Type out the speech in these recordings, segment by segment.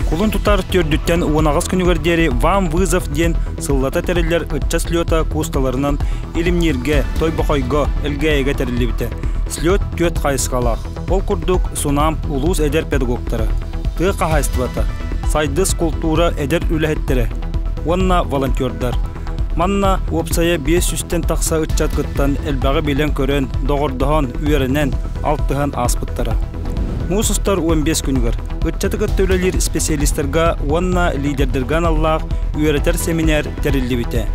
Кулун тутар төрдүттэн уонаҕас күнүгэр диэри Вам Вызов диэн сыллата тэриллэр ычча слета куусталарынан Илимнииргэ, Тойбохойго, Элгээйигэ тэриллибитэ. Слет түөрт хайысхалаах. Ол курдук, Сунамп улуус эдэр педагогтара, тыа хаһаайыстыбата, сайдыс култуура эдэр үлэһиттэрэ уонна волонтердар. Манна уопсайа биэс сүүстэн тахса ыччат кыттан элбэҕи билэн-көрөн, доҕордоһон, үөрэнэн, алтыһан ааспыттара. Муус устар уон биэс күнүгэр ыччаты кытта үлэлиир специалистарга уонна лидердэргэ аналлаах үөрэтэр сэминээр тэриллибитэ.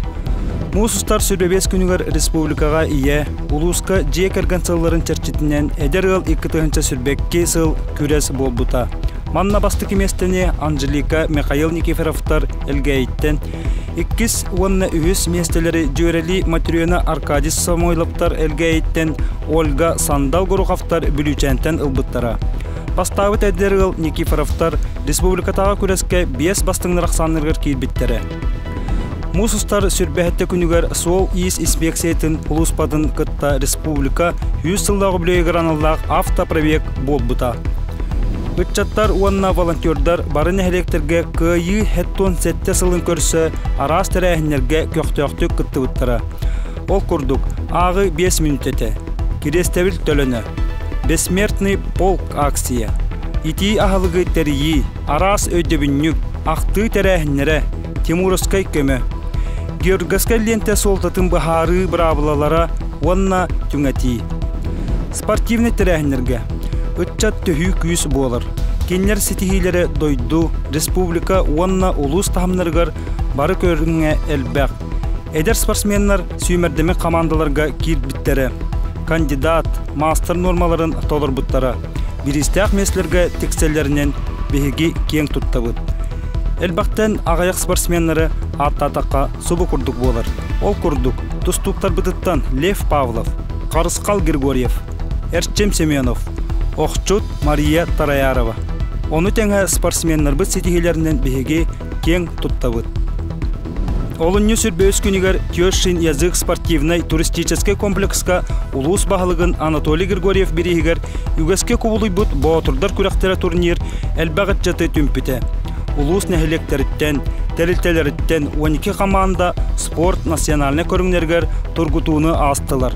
Муус устар сүрэ биэс күнүгэр республикаҕа ийэ, Улууска дьиэ кэргэн сылларын чэрчитинэн эдэр ыал икки тыһыынча сирбэкки сыл күрэс буолбута. Манна бастакы миэстэни Анжелика Михаил Никифоровтар Элгээйиттэн, иккис уонна үһүс миэстэлэри дьүөрэлии Матрена Аркадьевич Самойловтар Элгээйиттэн, Ольга Сандал Горуховтар Бүлүүчээнтэн ылбыттара. Бастаабыт эдэр ыал Никифоровтар республикатааҕы күрэскэ биэс бастыҥнар ахсаанныырыгар киирбиттэрэ. Муус устар сүрбэһиттэ күнүгэр Суол-иис испиэксийэтин улууспатын кытта республика үс сыллаах үбүлүөйүгэр аналлаах автопробег буолбута. Ыччаттар уонна волонтердар бары нэһилиэктэргэ Кыайыы Хеттун сэттэ сылын көрсө араас тэрээһиннэргэ көхтөөхтүк кыттыбыттара. Ол курдук, ааҕыы биэс мүнүүтэтэ, Кириэстэбил төлөнө, Бессмертный полк акция, Итии аһылыгы тэрийии, араас өйдөбүнньүк, ахтыы тэрээһиннэрэ, тимуровскай көмө, георговскай лиэнтэ суолтатын быһаарыы быраабылалара уонна түҥэтии. Спортивнай тэрээһиннэргэ ыччат төһүү күүс буолар. Кинилэр ситиһиилэрэ дойду, республика уонна улуус таһымнарыгар бары көрүҥҥэ элбэх. Эдэр спортсменнар сүүмэрдэмик хамаандаларга киирбиттэрэ, кандидат, маастар нуормаларын толорбуттара. Бириистээх миэстэлэргэ тиксэллэринэн биһиги киэҥ туттабыт. Элбэхтэн аҕыйах спортсменнары ааттаатахха субу курдук буолар. Ол курдук, тустууктарбытыттан Лев Павлов, Харысхал Григорьев, Эрчим Семенов, охчут Мария Тараярова. Ону тэҥэ спортсменнарбыт ситиһиилэринэн биһиги киэҥ туттабыт. Олунньу сүр бөҕүс күнүгэр Тёшин язык спортивнай-туристическай комплекска улуус баһылыгын Анатолий Григорьев бирииһигэр үгэскэ кубулуйбут Боотурдар күрэхтэрэ турнир элбэх ыччаты түмпүтэ. Улуус нэһилиэктэриттэн, тэрилтэлэриттэн 12 хамаанда спорт национальнай көрүҥнэригэр тургутууну аастылар.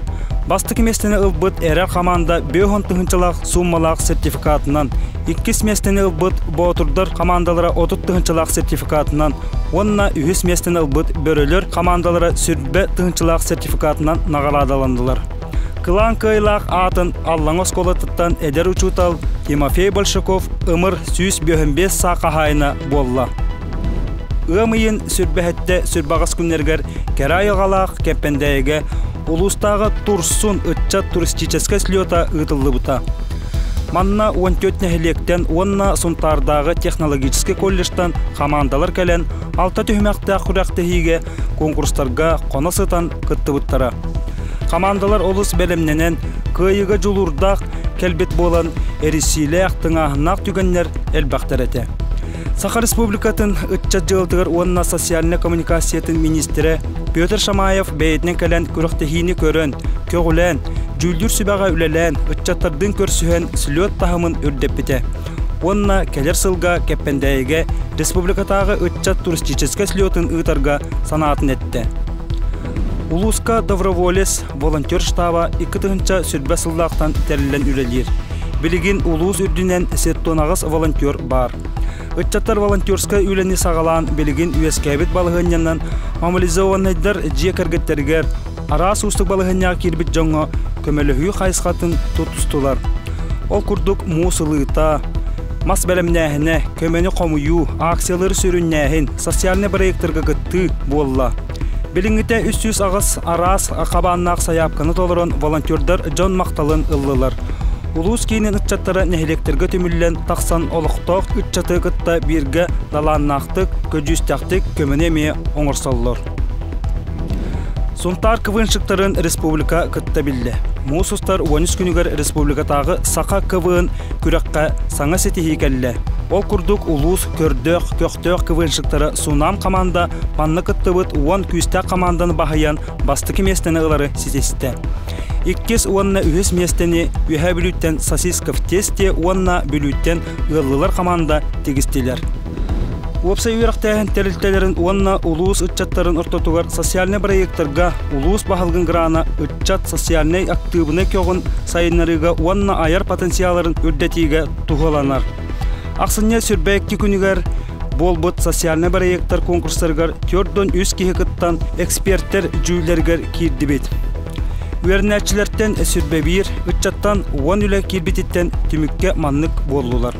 Бастакы миэстэни ылбыт эрэ хамаанда бөһөн тыһыынчалаах суммалаах сертификатынан иккис миэстэни ылбыт Боотурдар хамаандалара отут тыһыынчалаах сертификатынан уонна үһүс миэстэни ылбыт Бөрөлөр хамаандалара сүрбэ тыһыынчалаах сертификатынан наҕараадаланнылар. Кылаан кыайылаах аатын Аллаҥа оскуолатыттан эдэр учуутал Тимофей Большаков ымыр сүүс бүөһүн биэс саа хаһаайына буолла. Ыам ыйын сүрбэһэттэ сүрбэҕэс күннэригэр кэрэ айылҕалаах Кэмпэндээйигэ улуустааҕы Турсун ыччат туристическай слета ыытыллыбыта. Манна уон түөрт нэһилиэктэн уонна Сунтаардааҕы технологическай колледжтан хамаандалар кэлэн, алта түһүмэхтээх күрэхтэһиигэ, куонкурстарга хоно сытан кыттыбыттара. Хамаандалар олус бэлэмнэнэн, кыайыыга дьулуурдаах кэлбит буолан, эрисиилээх, тыҥааһыннаах түгэннэр элбэхтэр этэ. Саха Республикатын ыччат дьыалатыгар уонна социальнай коммуникациятын миниистирэ Петр Шамаев бэйэтинэн кэлэн күрэхтэһиини көрөн, көҕүлээн, дьүүллүүр сүбэҕэ үлэлээн, ыччаттардыын көрсүһэн слет таһымын үрдэппитэ уонна кэлэр сылга Кэппэндээйигэ республикатааҕы ыччат туристическай слетын ыытарга санаатын эттэ. Улууска доброволец волонтер штаба икки тыһыынча сүрбэ сыллаахтан тэриллэн үлэлиир. Билигин улуус үрдүнэн сеттонаҕас волонтер баар. Ыччаттар волонтерскай үлэни саҕалаан билигин үөскээбит балаһыанньанан мобилизованнайдар дьиэ кэргэттэригэр араас уустук балаһыанньаҕа киирбит дьоҥҥо көмөлөһүү хайысхатын тутустулар. Ол курдук муус ылыыта, мас бэлэмнээһинэ, көмөнү хомуйуу, акциялары сүрүннээһин социальнай проекторга кыттыы буолла. Билиҥҥитэ үс сүүс аҕыс араас хабааннаах сайаапканы толорон волонтердар дьон махталын ыллылар. Улуус киинин ыччаттара нэһилиэктэргэ түмүллэн тахсан олохтоох ыччаты кытта бииргэ талааннаахтык, көдьүүстээхтик көмөнү эмиэ оҥорсоллор. Сунтаар квыншиктарын республика кытта биллэ. Муус устар уонүс күнүгэр республикатааҕы саха КВН күрэххэ саҥа ситиһии кэллэ. Ол курдук улуус көрдөөх, көхтөөх квыншиктара Сунаам хамаанда манна кыттыбыт уон күүстээх хамаанданы баһыйан бастакы миэстэни ылары ситистэ. Иккис уонна үһүс миэстэни Үөһээ Бүлүүттэн Сосисков Тесте уонна Бүлүүттэн ыаллылар хамаанда тигистилэр. Уопсай үөрэхтээһин тэрилтэлэрин уонна улуус ыччаттарын ортотугар социальнай бырайыактарга улуус баһылыгын грана ыччат социальнай актыыбынай көҕүн сайыннарыыга уонна айар потенциалларын үрдэтиигэ туһуланар. Ахсынньы сүрбэ икки күнүгэр Буолбут социальнай бырайыактар конкурстарыгар төрт уон үс киһи кыттан, экспертэр дьүүллэригэр киирдибит. Үөрэнээччилэртэн сүрбэбиир ыччаттан уон үлэ киирбититтэн түмүккэ маннык буоллулар.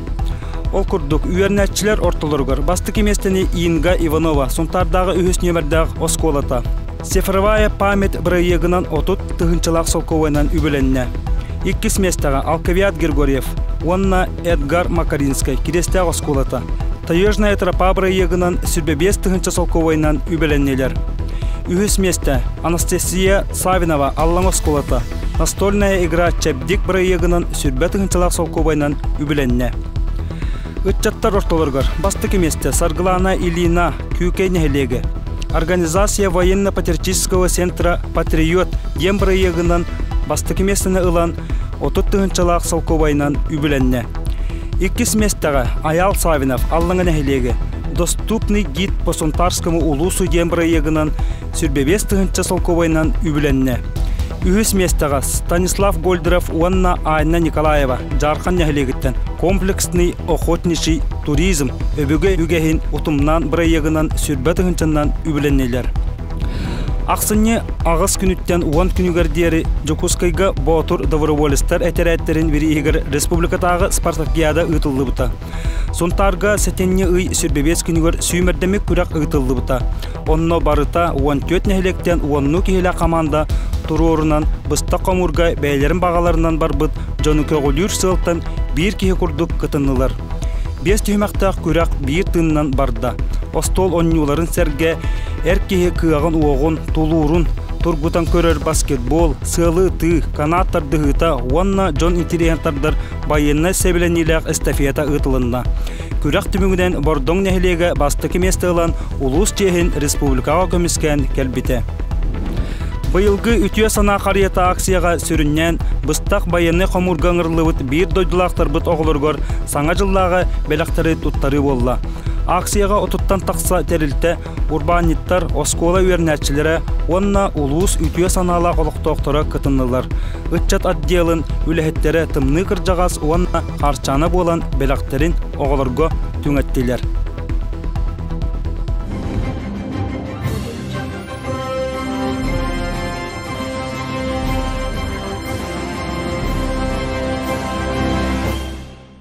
Ол курдук, үөрэнээччилэр ортолоругар бастакы миэстэни Инга Иванова Сунтаардааҕы үһүс нүөмэрдээх оскуолата, Цифровая память бырайыагынан отут тыһыынчалаах солкуобайынан үбүлэннэ. Иккис миэстэҕэ Алкавиад Григорьев уонна Эдгар Макаринскай Кириэстээх оскуолата «Таежная тропа» бырайыагынан сүрбэ биэс тыһыынча солкуобайынан үбүлэннилэр. Үһүс миэстэ Анастасия Савинова Аллаҥ оскуолата «Настольная игра Чэбдик» бырайыагынан сүрбэ тыһыынчалаах солкуобайынан үбүлэннэ. Ыччаттар ортолоругар бастакы миэстэ Саргылана Ильина Күүкэй нэһилиэгэ Организация военно-патриотического центра «Патриот» диэн бырайыагынан бастакы миэстэни ылан, отут тыһыынчалаах солкуобайынан үбүлэннэ. Иккис миэстэҕэ Айаал Савинов Аллаҥа нэһилиэгэ «Доступный гид по Сунтарскому улуусу» диэн бырайыагынан Сирбэбиэс тыһыынча солкуобайынан үбүлэннэ. Үһүс миэстэҕэ Станислав Гольдеров уонна Анна Николаева Дьаархан нэһилиэгиттэн комплексный охотничий туризм өбүгэ үгэһин утумнаан бырайыагынан сирбэ тыһыынчанан үбүлэннилэр. Ахсынньы аҕыс күнүттэн уон күнүгэр диэри Дьокуускайга Боотур доброволецтар этэрээттэрин бирииһигэр республикатааҕы спартакиада ыытыллыбыта. Сунтаарга сэтинньи ый сирбэбиэс күнүгэр сүүмэрдэмик күрэх ыытыллыбыта. Онно барыта уон түөрт нэһилиэктэн уоннуу киһилээх хамаанда туруорунан быстах хомуурга бэйэлэрин баҕаларынан барбыт дьону көҕүлүүр сыалтан биир киһи курдук кытыннылар. Биэс түһүмэхтээх күрэх биир тыынынан барда. Остуол онньууларын сэргэ эр киһи кыаҕын-уоҕун, тулуурун тургутан көрөр баскетбол, сыалы ытыы, канаат тардыһыыта уонна дьон интириэһин тардар Байыаннай сэбилэниилээх эстафета ыытылынна. Күрэх түмүгүнэн Бордоҥ нэһилиэгэ бастакы миэстэ ылан, улуус чиэһин республикаҕа көмүскээн кэлбитэ. Быйылгы үтүө санаа харыйата акцияҕа сүрүннээн быстах байыаннай хомуурга ыҥырыллыбыт биир дойдулаахтарбыт оҕолоругар Саҥа дьыллааҕы бэлэхтэри туттарыы буолла. Акцияҕа отуттан тахса тэрилтэ урбаанньыттар, оскуола үөрэнээччилэрэ уонна улуус үтүө санаалаах олохтоохторо кытыннылар. Ыччат отделын үлэһиттэрэ тымныы кырдьаҕас уонна хаарчаана буолан бэлэхтэрин оҕолорго түҥэттилэр.